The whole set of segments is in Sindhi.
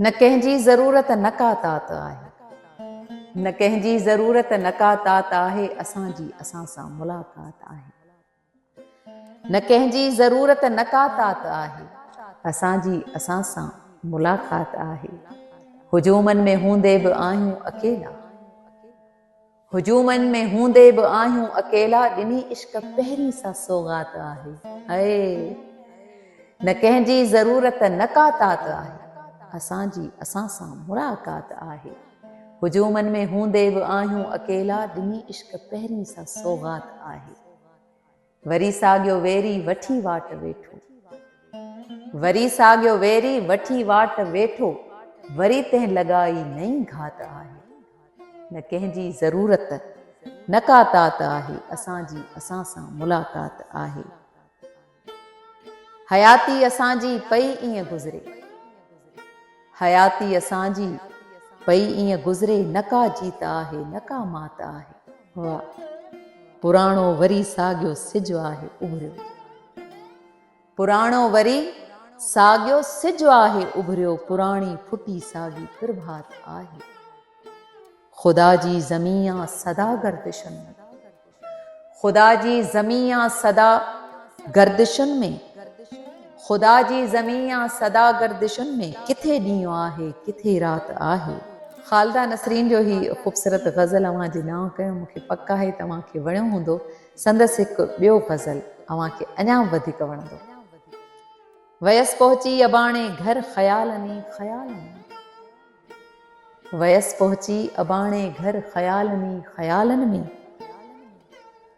نه ڪنهن جي ضرورت نه ڪا تات آهي. نه ڪنهن جي ضرورت نه ڪا تات آهي اسان جي اسان سان ملاقات آهي. نه ڪنهن جي ضرورت نه ڪا تات آهي. اسان جي اسان سان ملاقات آهي. هجومن ۾ هوندي به آهيون اڪيلا. هجومن ۾ هوندي به آهيون اڪيلا ڏني عشق پهرين سا سوغات آهي هيء نه ڪنهن جي ضرورت نه ڪا تات آهي اسان جي اسان سان ملاقات آهي هجومن ۾ هوندي به آهيون اڪيلا ڏني عشق پهرين سا سوغات آهي. وري ساڳيو ويري وٺي واٽ ويٺو. وري ساڳيو ويري وٺي واٽ ويٺو. وري تنهن لڳائي نئين گهات آهي. نه ڪنهن جي ضرورت نه ڪا تات آهي. اسان جي اسان سان ملاقات آهي. حياتي اسان جي پئي ائين گذري. حياتي اسان جي پئي ائين گذري نه ڪا جيت آهي نه ڪا مات آهي. واء پراڻو وري ساڳيو سج آهي اڀريو. پراڻو وري ساڳيو سج آهي اڀريو پراڻي ڦٽي ساڳي پرڀات آهي. خدا جي زمين آ سدا گردشن ۾. خدا جي زمين يا سدا گردشن ۾، خدا جي زمين يا سدا گردشن ۾، ڪٿي ڏينهن آهي ڪٿي رات آهي. خالده نسرين جو هي خوبصورت غزل اوهان جي نانء ڪيو، مون کي پڪ آهي ته اوهان کي وڻيو هوندو، سندس هڪ ٻيو غزل اوهان کي اڃا به وڌيڪ وڻندو. ويس پهچي اباڻي گهر خيالن ئي خيالن ۾. ويس پهچي اباڻي گهر خيالن ئي خيالن ۾،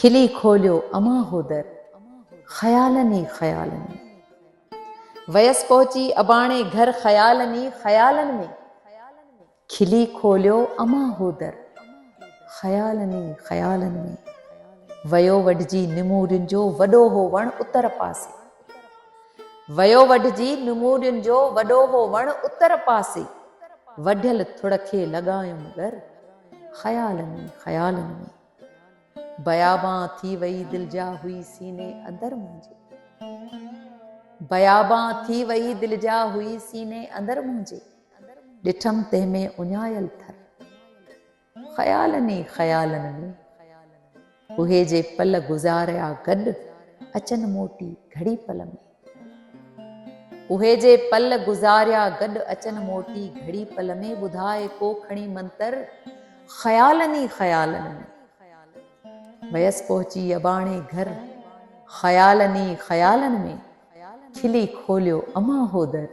کلي کوليو امان هو در خيالن ئي خيالن ۾. ويس پهچي اباڻي گهر خيالن ئي خيالن ۾، کلي کوليو امان هو در خيالن ئي خيالن ۾. ويو وڍجي نمورين جو وڏو هو وڻ اتر پاسي. ويو وڍجي نمورين جو وڏو هو وڻ اتر پاسي وڍيل ٿڙ کي لڳايم ڳر خيالن ۾ خيالن ۾ بيابان ٿي وئي دل جا هئي سيني اندر منهنجي بيابان ٿي وئي دل جا هئي سيني اندر منهنجي ڏٺم تنهن ۾ اڃايل ٿر خيالن ئي خيالن ۾، اهي جي پل گذاريا گڏ، اچن موٽي گهڙي پل ۾. اهي جي پل گذاريا گڏ، اچن موٽي گهڙي پل ۾، ٻڌاء ڪو کڻي منتر، خيالن ئي خيالن ۾. ويس پهچي اباڻي گهر، خيالن ئي خيالن ۾، کلي کوليو امان هو در،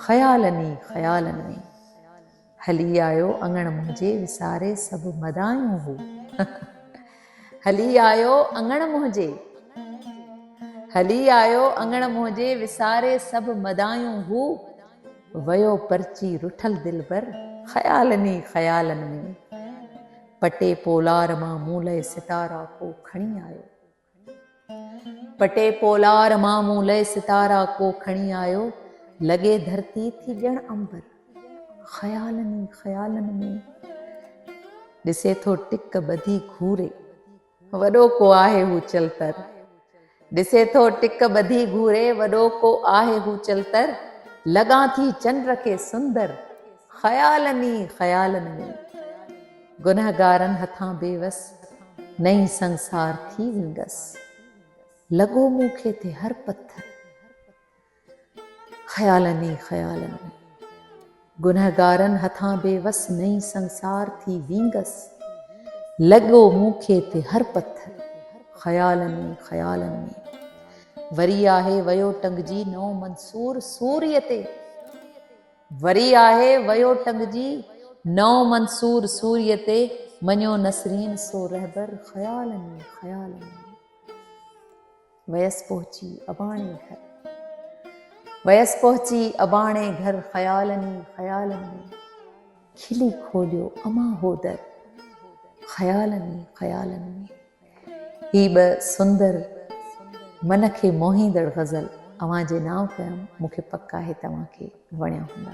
خيالن ئي خيالن ۾. هلي آيو اڱڻ منهنجي وساري سڀ مدايون هو هلي آيو اڱڻ منهنجي هلي آيو اڱڻ منهنجي وساري سڀ مدايون هو ويو پرچي رٺل دلبر خيالن ئي خيالن ۾ پٽي پولار مان مون لئه ستارا ڪو کڻي آيو. پٽي پولار مان مون لئه ستارا ڪو کڻي آيو، لڳي ڌرتي ٿي ڄڻ عنبر. خيالن ئي خيالن ۾، ڏسي ٿو ٽڪ ٻڌي گهوري، وڏو ڪو آهي هو چلتر. ڏسي ٿو ٽڪ ٻڌي گهوري، وڏو ڪو آهي هو چلتر. لڳان ٿي چنڊ کي سندر، خيالن ئي خيالن ۾. گنهگارن هٿان بيوس، نئين سنسار ٿي ويندس. لڳو مون کي تي هر پٿر، خيالن ئي خيالن ۾. گنهگارن هٿان بيوس، نئين سنسار ٿي ويندس. لڳو مون کي تي هر پٿر، خيالن ئي خيالن ۾. وري آهي ويو ٽنگجي نئون منصور سوريء تي. وري آهي ويو ٽنگجي نئون منصور سوريء تي مڃيو نسرين سو رهبر خيالن ئي خيالن ۾. ويس پهچي اباڻي گهر ويس پهچي اباڻي گهر خيالن ئي خيالن ۾. کلي کوليو امان هو در خيالن ئي خيالن ۾. هي به سندر من کي موهيندڙ غزل اوهان جي نانء ڪيم مون کي پڪ آهي توهان کي وڻيا هوندا.